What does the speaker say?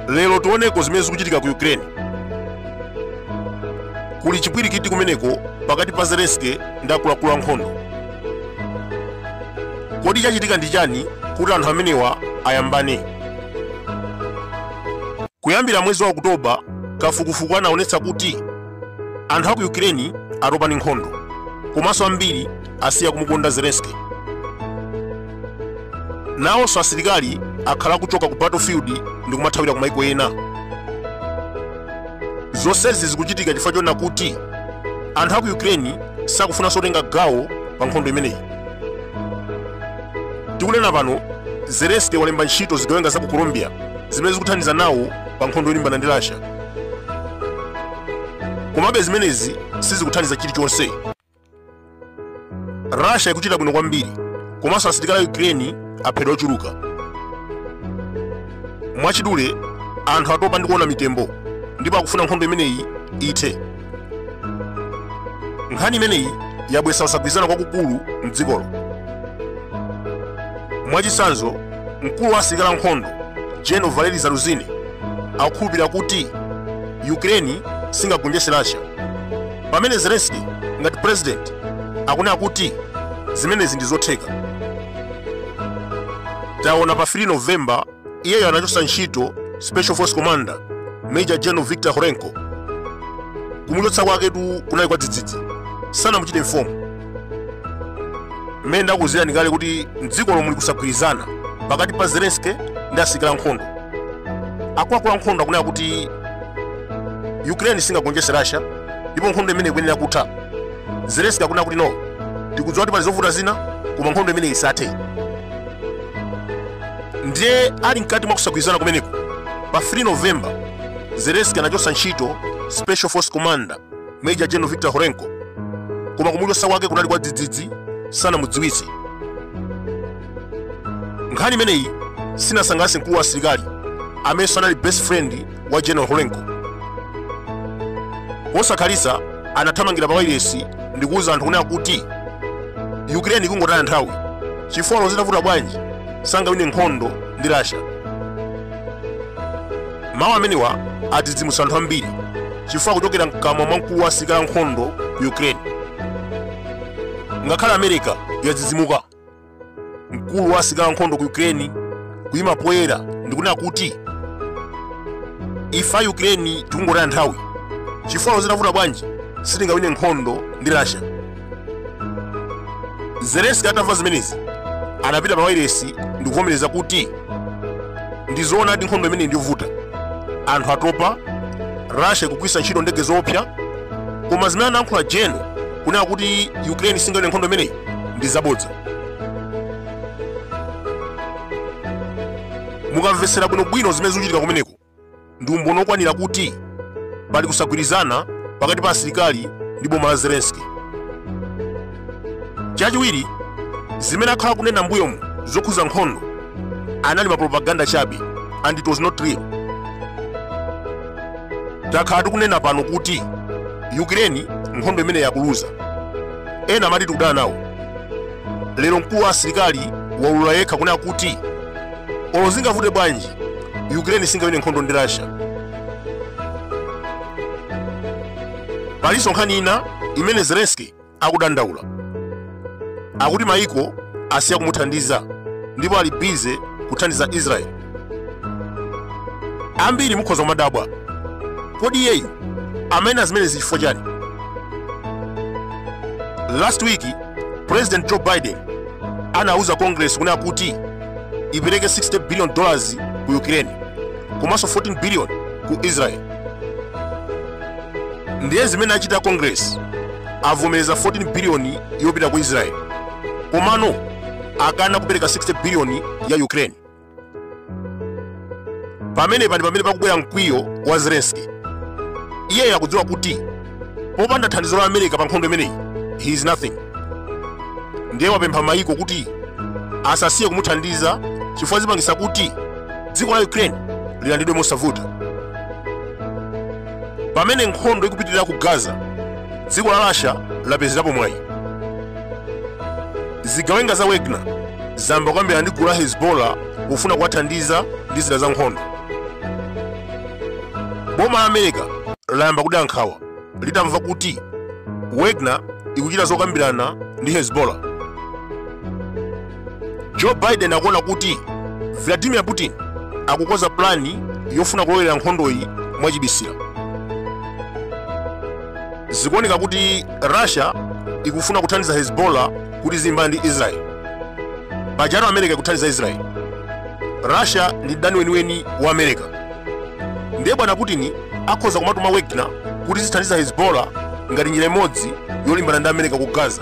lero tioneko zimene zikuchitika ku ukraine kuli chipwirikiti kumeneko pakati pa zelenski ndi akuluakulu ankhondo kodi chachitika ndi chani kuti anthu amenewa ayambane Kuyambira mwezi wa Okutoba, kafukufuku anaonetsa kuti anthu a ku Ukraine atopa ndi nkhondo komanso ambiri asiya kumukonda Zelensky. Nawonso asilikali akhala akuchoka ku battlefield ndi kumathawira ku maiko ena. Zonsezi zikuchitika chifukwa choona kuti anthu a ku Ukraine sakufunanso kutenga gawo pa nkhondo imeneyi. tikunena pano zelensky walemba ntchito zigawenga za ku colombia zimene zikuthandiza nawo pa nkhondo yolimbana ndi russia komabe zimenezi sizikuthandiza chilichonse russia ikuchita bwino kwambiri komanso asilikali a ukraine aphedwa ochuluka mwachidule anthu atopa ndi kuona mitembo ndipo akufuna nkhondo imeneyi ithe nkhani imeneyi yabwesa kusagwirizana kwakukulu mdzikolo mwachitsanzo mkulu wa asilikali ankhondo general valeri zaluzhnyi akukhulupirira kuti ukraine singagonjetse russia pamene zelenski ngati president akunena kuti zimenezi ndi zotheka taona pa 3 novemba iyeyo anachotsa ntchito special force commander major general victor horenko kumuchotsa kwaketu kunali kwa dzidzidzi sanamuchite inform mmene ndakuuzirani kale kuti mdzikolo muli kusagwirizana pakati pa zelenski ndi asilikali ankhondo akuluakulu ankhondo akunena kuti ukraine singagonjetse russia ndipo nkhondo imeneyi ikuyenera kutha zelenski akunena kuti no tikudziwa kuti pali zovuta zina koma nkhondo imeneyi isathe ndiye ali mkati mwa kusagwirizana kumeneko pa 3 novemba zelenski anachotsa ntchito special force commander major general victor horenko koma kumuchotsa kwake kunali kwa dzidzidzi sanamudziwitse nkhani imeneyi sinasangalatse mkulu wa asilikali amenenso anali best friend wa general horenko posakhalitsa anathamangira pa wailesi ndi kuwuza anthu kunena kuti ukraine ikungotaya nthawi chifukwa olo zitavuta bwanji sangawine nkhondo ndi russia mawu amenewa adzidzimutsa anthu ambiri chifukwa akuchokera mkamwa mwa mkulu wa asilikali ankhondo ku ukraine ngakhale america yadzidzimuka mkulu wa asilikali ankhondo ku ukraine kuyima poyera ndikunena kuti ife a ukraine tikungotaya nthawi chifukwa zitavuta bwanji sitingawine nkhondo ndi russia zelenski atamva zimenezi anapita pa wailesi ndikuvomereza kuti ndizoonadi nkhondo imeneyi ndiyovuta anthu atopa russia ikugwiritsa ntchito ndege zoopsa koma zimene anayankhula general kunena kuti ukraine singawine nkhondo imeneyi ndi zabodza mukamvetsera bwinobwino zimene zikuchitika kumeneko ndi umboni okwanira kuti pali kusagwirizana pakati pa asilikali ndi boma la zelenski chachiwiri zimene akhala kunena mbuyomu zokhuza nkhondo anali mapropaganda chabe and it was not real takhala tikunena pano kuti ukraine nkhondo imeneyi akuluza ena amati tikudana nawo lero mkulu wa asilikali waulula yekha kunena kuti olo zingavute bwanji ukraine singawine nkhondo ndi russia palinso nkhani ina imene zelenski akudandaula akuti maiko asiya kumuthandiza ndipo ali bize kuthandiza israeli ambiri mukhoza kumadabwa kodi iyeyu amanena zimenezi chifukwa chani last week president joe biden anauza congress kunena kuti ipereke 60 billion dollars ku ukraine komanso 14 billion ku israel ndiye zimene achita congress avomereza 14 billion yopita ku israel komano akana kupereka 60 billion ya ukraine pamenepa ndi pamene pakubwera mkwiyo wa zelenski iye akudziwa kuti popanda thandizo la america pa nkhondo imeneyi he is nothing ndiye wapempha mayiko kuti asasiye kumuthandiza chifukwa zipangisa kuti dziko la ukraine lilandidwe mosavuta pamene nkhondo ikupitirira ku gaza dziko la russia lapezerapo mwayi zigawenga za wagner zayamba kukambirana ndi gulu la hezbollah kufuna kuwathandiza ndi zida za nkhondo boma la america layamba kudera nkhawa litamva kuti wagner ikuchita zokambirana ndi hezbollah joe biden akuona kuti vladimir putin akukonza pulani yofuna kulowera nkhondoyi mwachibisira zikuoneka kuti russia ikufuna kuthandiza hezbollah kuti izilimbana ndi israel pajatu america ikuthandiza israel russia ndi mdani weniweni wa america ndiye bwana putin akhoza kumatuma wagner kuti izithandiza hezbollah ngati njira imodzi yolimbana ndi america ku gaza